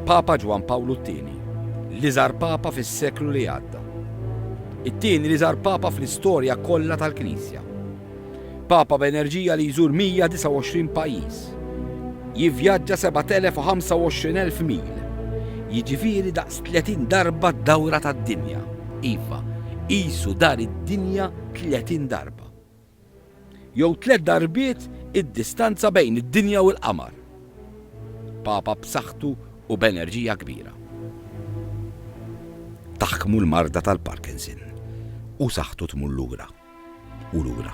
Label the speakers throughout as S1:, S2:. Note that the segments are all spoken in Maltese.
S1: Papa Ġwan Pawlu II, li żar Papa fis-seklu li għadda. It-tieni li żar Papa fl-istorja kollha tal-Knisja. Papa b'enerġija li jżur 129 pajjiż. Jivvjaġġa 7,025 mil. Jiġifieri daqs 30 darba d-dawra tad-dinja. Iva, qisu dar id-dinja 30 darba. Jew tliet darbiet id-distanza bejn id-dinja u l-qamar. Papa b'saħħtu u b'enerġija kbira. Taħkmu l-marda tal-Parkinson u saħħtu tmur lura. u lura.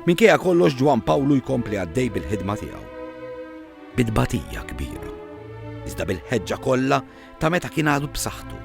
S1: Minkejja kollox Ġwan Pawlu jkompli għaddej bil-ħidma tiegħu. Bidbatija kbira. Iżda bil-ħeġġa kollha ta' meta kien għadu b'saħħtu.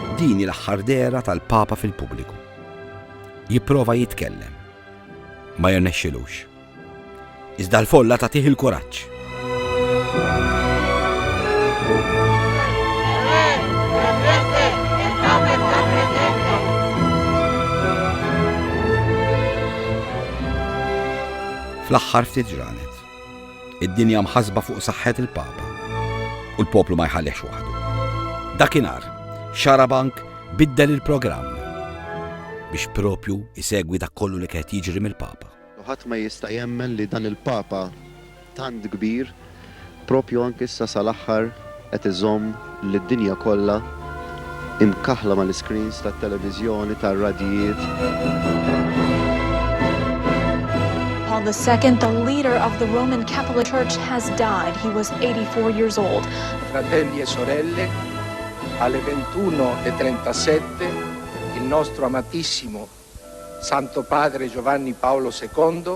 S1: Din hi l-aħħar dehra tal-Papa fil-pubbliku. Jipprova jitkellem. Ma jirnexxilux. Iżda l-folla tagħtih il-kuraġġ. fl-aħħar ftit ġranet. Id-dinja mħassba fuq saħħet il-Papa u l-poplu ma jħallihx waħdu. Dakinhar, Xarabank biddel il-programm biex propju isegwi dak kollu li qed jiġri mill-Papa. U ħadd ma jista' jemmen li dan il-Papa tant kbir propju anke issa sal-aħħar qed iżomm lid-dinja kollha imkaħħla mal-iscreens tat-televiżjoni, tar-radjijiet. Paul II, the leader of the Roman Catholic Church, has died. He was 84 years old. Fratelli e sorelle, alle 21.37 e il nostro amatissimo Santo Padre Giovanni Paolo II